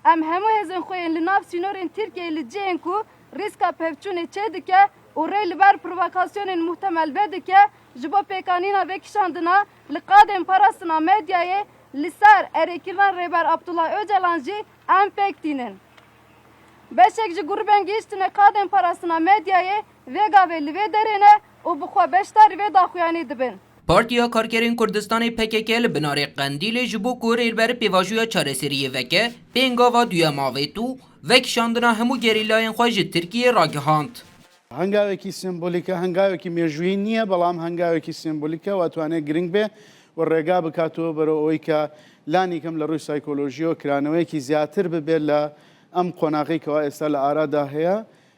Em hemû hêzên xwe yên li nav sînorên Tirkiyeyê li cihên ku rîska pevçûnê çêdike û rê li ber provokasyonên muhtemel vedike ji bo pêkanîna vê kişandina li qadên parastina medyayê li ser erêkirina Rêber Abdullah Ocalan jî em pêk tînin. Beşek ji grûbên gihîştine qadên parastina medyayê vê gavê li vê derê ne û bi xwe beşdar vê daxuyanî dibin. Partiya Karkerên Kurdistanê pkk li binarê Qendîlê ji bo ku rêber pêvajoya çareseriyê veke, pêngava duyem avêt û vekişandina hemû gerîlayên xwe ji Tirkiyê ragihand. Hengavekî sembolîk e, hengavekî mêjûyî nîye belam hengavekî sembolîk e û etwane giring bê û rêga bikato bero oîka lanîkem li rûy saykolojîyo kiraneweyekî zyatir bibe li em qonaxê kewa êsta li arada heye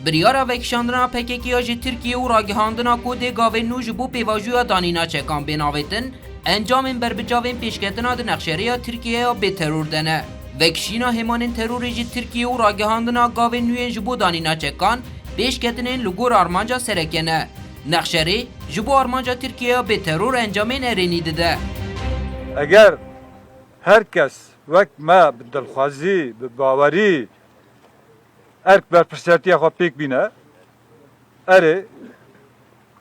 Biryara vekişandina PKK ya ji Tirkiyê û ragihandina ku dê gavên nû ji bo pêvajoya danîna çekan bên avêtin, encamên berbicavên pêşketina di nexşerêya Tirkiyê ya bêteror de ne. Vekişîna hêmanên terorê ji Tirkiyê û ragihandina gavên nûyên ji bo danîna çekan pêşketinên li gor armanca sereke ne. Nexşerê ji bo armanca Tirkiyê ya bêteror encamên erênî dide. Eger her kes wek me bi dilxwazî, bi bawerî Erk berpirsiyatiya xwe pêk bîne. Erê,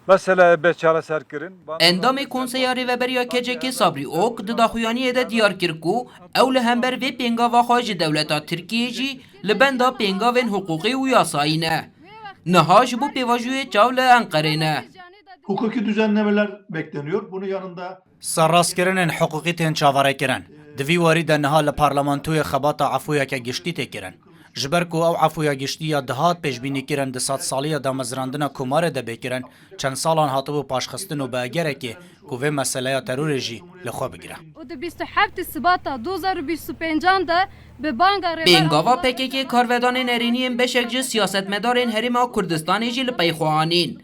meseleyê bê çareserkirin. Endamê Konseya Rêveberî ya KCK'ê Sabrî Ok di daxuyaniyê de diyar kir ku ew li hember vê pêngava xwe ji dewleta Tirkiyeyê jî li benda pêngavên hiqûqî û yasayî ne. Niha ji bo pêvajoyê çav li Enqerê ne. Hukuki düzen nemeler bekleniyor. Bunun yanında Serrastkirinên hiqûqî tên çaverêkirin. Di vî warî de niha li parlamentoyê xebata efûyeke giştî tê kirin. Ji ber ku ew efûya giştî ya dihat pêşbînîkirin di sedsaliya damezrandina komarê de bê kirin, çend salan hatibû paşxistin û bi egerekê ku vê meseleya terorê jî li xwe bigire. û di bîst û heftî Sibata du hezar û bîst û pêncan de bi banga Rêber Abdullah Bi gava PKK'ê karvedanên erêniyên beşek ji siyasetmedarên Herêma Kurdistanê jî li pey xwe anîn.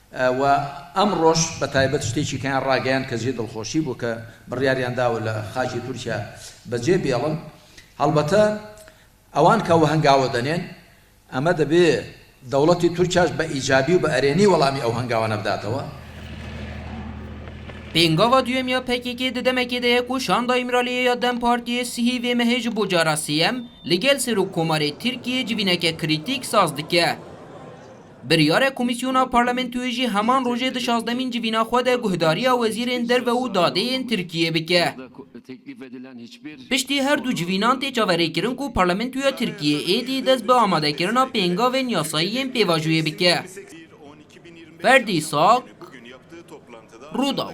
Û em roj be taybet ji têkî keyan rageyand ke jê dilxoşî bû ke biryariyan dawe li xakê Tirkiye be cê bihêlin. Helbete ewan ke we hengawe denên, eme dibê dewletê Tirkiye ji be îcabî û bi erênî welamî ew hengawane bidatewe. Pêngava duyem ya pkk di demekê de ye ku Şanda Îmraliyê ya dem Partiyê sihî vê mehê ji bo cara sêyem li gel Serokkomarê Tirkiyê civîneke krîtîk saz dike. Biryarek Komîsyona Parlamentoyê jî heman rojê di şazdemîn civîna xwe de guhdariya Wezîrên Derve û Dadê yên Tirkiyê bike. Piştî her du civînan tê çaverêkirin ku Parlamentoya Tirkiyê êdî dest bi amadekirina pêngavên yasayî yên pêvajoyê bike. Ferdî Sak, Rûdaw.